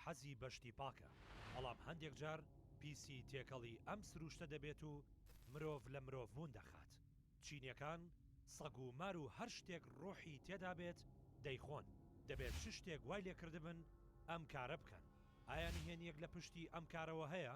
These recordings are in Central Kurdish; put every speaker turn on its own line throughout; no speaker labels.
حەزی بە شتی پاکە، بەڵام هەندێک جار پیسی تێکەڵی ئەم سروشتە دەبێت و مرۆڤ لە مرۆڤبوون دەخات. چینیەکان سەگ و مار و هەر شتێک ڕۆحی تێدا بێت دەیخۆن، دەبێت چ شتێک وای لێکردبن ئەم کارە بکەن، ئایا نهێنیەک لە پشتی ئەم کارەوە هەیە؟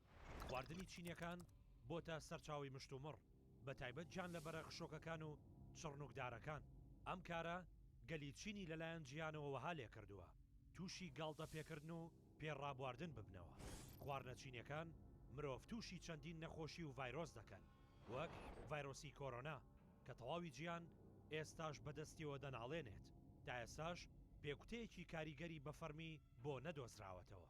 خواردنی چینیەکان بۆتە سەرچاوەی مشتومڕ، بە تایبەت گیانلەبەرە خشۆکەکان و چڕنوکدارەکان، ئەم کارە گەلی چینی لەلایەن جیهانەوە وەها لێکردووە تووشی گاڵتە پێکردن و پێ ڕابواردن ببنەوە، خواردنە چینیەکان مرۆڤ تووشی چەندین نەخۆشی و ڤایرۆس دەکەن وەک ڤایرۆسی کۆرۆنا کە تەواوی جیهان ئێستاش بەدەستیەوە دەناڵێنێت، تائێستاش بێگوتەیەکی کاریگەری بەفەرمی بۆ نەدۆزراوەتەوە.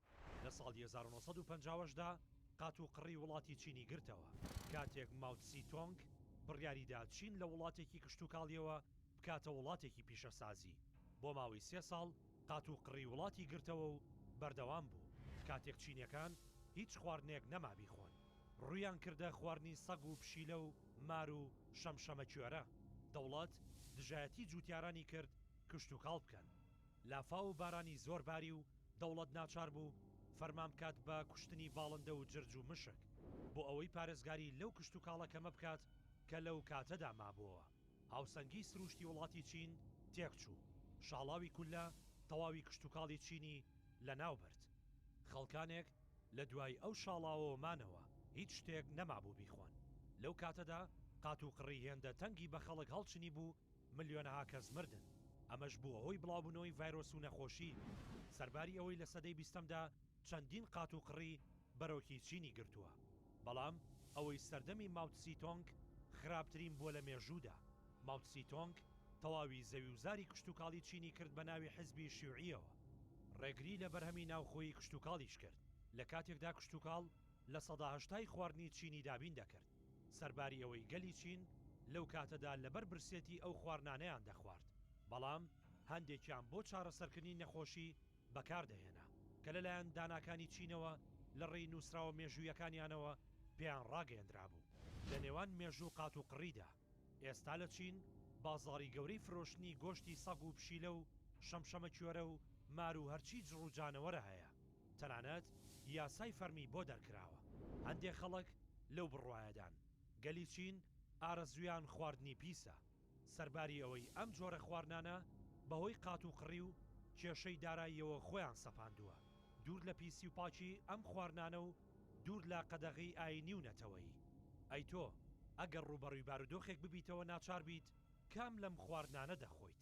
لە ساڵی هەزار و نۆ سەد و پەنجا و هەشت دا قاتوقڕی وڵاتی چینی گرتەوە، کاتێک ماو تسی تۆنگ بڕیاری دا چین لە وڵاتێکی کشتوکاڵییەوە بکاتە وڵاتێکی پیشەسازی، بۆ ماوەی سێ ساڵ قاتوقڕی وڵاتی گرتەوە و بەردەوام بوو، کاتێک چینیەکان هیچ خواردنێک نەما بیخۆن، ڕوویان کردە خواردنی سەگ و پشیلە و مار و شەمشەمەکوێرە، دەوڵەت دژایەتی جووتیارانی کرد کشتوکاڵ بکەن، لافاو و بارانی زۆر باری و دەوڵەت ناچار بوو فەرمان بکات بە کوشتنی باڵندە و جرج و مشک بۆ ئەوەی پارێزگاری لەو کشتوکاڵە کەمە بکات کە لەو کاتەدا مابووە. هاوسەنگیی سرووشتی وڵاتی چین تێکچوو، شاڵاوی کولە تەواوی کشتوکاڵی چینی لەناو برد. خەڵکانێک لە دوای ئەو شاڵاوەوە مانەوە، هیچ شتێک نەمابوو بیخۆن. لەو کاتەدا قات و قڕی هێندە تەنگی بە خەڵک هەڵچنیبوو ملیۆنەها کەس مردن، ئەمەش بووە هۆی بڵاوبوونەوەی ڤایرۆس و نەخۆشی، سەرباری ئەوەی لە سەدەی بیستەمدا چەندین قات و قڕی بەرۆکی چینی گرتووە، بەڵام ئەوەی سەردەمی ماوتسی تۆنگ خراپترین بووە لە مێژوودا، ماوتسی تۆنگ تەواوی زەویوزاری کشتوکاڵی چینی کرد بە ناوی حزبی شیوعییەوە، ڕێگری لە بەرهەمی ناوخۆیی کشتوکاڵیش کرد، لە کاتێکدا کشتوکاڵ لە سەدا هەشتای خواردنی چینی دابین دەکرد. سەرباری ئەوەی گەلی چین لەو کاتەدا لەبەر برسێتی ئەو خوارنانەیان دەخوارد، بەڵام هەندێکیان بۆ چارەسەرکردنی نەخۆشی بەکاردەهێنا، کە لەلایەن داناکانی چینەوە لە ڕێی نووسراوە مێژوویەکانیانەوە پێیان ڕاگەیەندرابوو. لە نێوان مێژوو و قاتوقڕیدا. ئێستا لە چین بازاڕی گەورەی فرۆشتنی گۆشتی سەگ و پشیلە و شەمشەمەکوێرە و مار و هەرچی جڕ و جانەوەرە هەیە، تەنانەت یاسای فەرمی بۆ دەرکراوە. هەندێک خەڵک لەو بڕوایەدان گەلی چین ئارەزوویان خواردنی پیسە، سەرباری ئەوەی ئەم جۆرە خواردنانە بەهۆی قاتوقڕی و کێشەی داراییەوە خۆیان سەپاندووە دوور لە پیسی و پاکی ئەم خواردنانە و دوور لە قەدەغەی ئایینی و نەتەوەیی. ئەی تۆ ئەگەر ڕووبەڕووی بارودۆخێک ببیتەوە ناچار بیت کام لەم خواردنانە دەخۆیت؟